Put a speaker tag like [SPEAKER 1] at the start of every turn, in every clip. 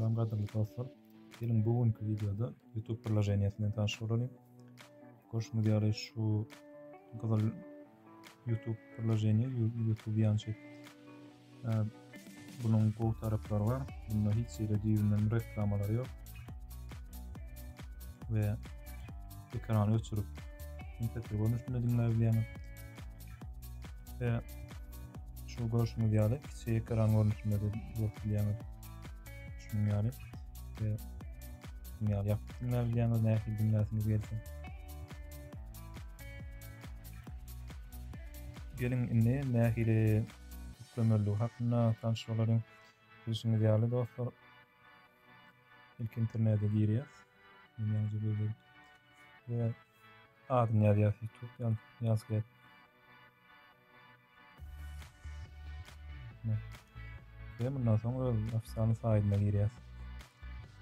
[SPEAKER 1] Salam gadyrly dostlar. Geliň bu günki videoda YouTube priloženiýasy bilen tanyş bolalyň. Görşüňiz ýaly şu gyzyl YouTube priloženiýa YouTube ýançyk. Bunuň gowy taraplary bar. Bunda hiç ýerde düýbünden reklamalar ýok. We ekrany öçürip, MP3 görnüşinde diňläp bilýäňiz. Ve şu görüşümüz yani kiçi ekran görünüşünde de görüp bilýäňiz. Şunuň ýaly. Ve şunuň ýaly ýapyp diňläp bilýäňiz, nähili diňläsiňiz gelsin. Gelin indi nähili ýüklemeligi hakynda tanşyp bolalyň. Bilşiňiz ýaly dostlar, ilk internete girýäs. Men ýaňja gözledim. Ve Adyny ýazýas YouTube ýaz, ýaz gel. Ve bundan soň öz ofisyalny saýdyna girýäs.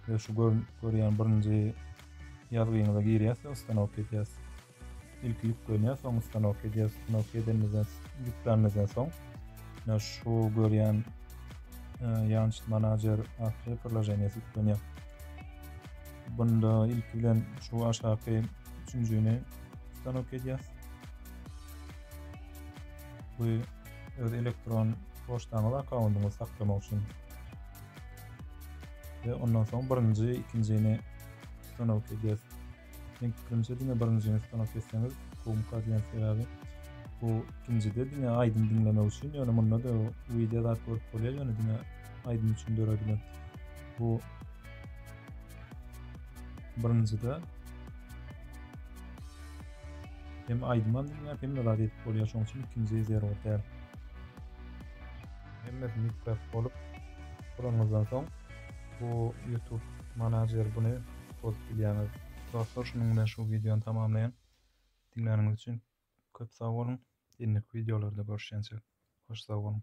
[SPEAKER 1] Ve şu gör, görýän birinji ýazgyňyza girýäs we ustanok edýäs. İlk ýüklenýär, soň ustanok edýäs. Ustanok edenimizden, ýüklenimizden soň ne şu görýän e, Yanch Manager atly priloženiýesi ýüklenýär. Bunda ilki bilen şu aşaky üçünjini stanok edýäs. Bu öz elektron poçtaňyz akkaundyňyzy saklamak üçin. Ve ondan soň birinji, ikinjini stanok edýäs. Men pikrimçe diňe birinji ýene stanok kesseňiz gumka diýen sebäbi bu ikinjide diňe aýdym diňlemek üçin ýöne munda da wideo zat görüp bolýar ýöne diňe aýdym üçin döredilen bu birinjide hem aýdym hem diňläp hem zat edip bolýar şonuň üçin ikinji zerur däl hemmesini ýüklep bolup guranyňyzdan soň Bu YouTube manager buny bozup bilýäňiz. Dostlar şunuň bilen şu wideony tamamlaýyn. Diňläniňiz üçin köp sag boluň. Indiki wideolarda görüşýänçäk hoş sag boluň.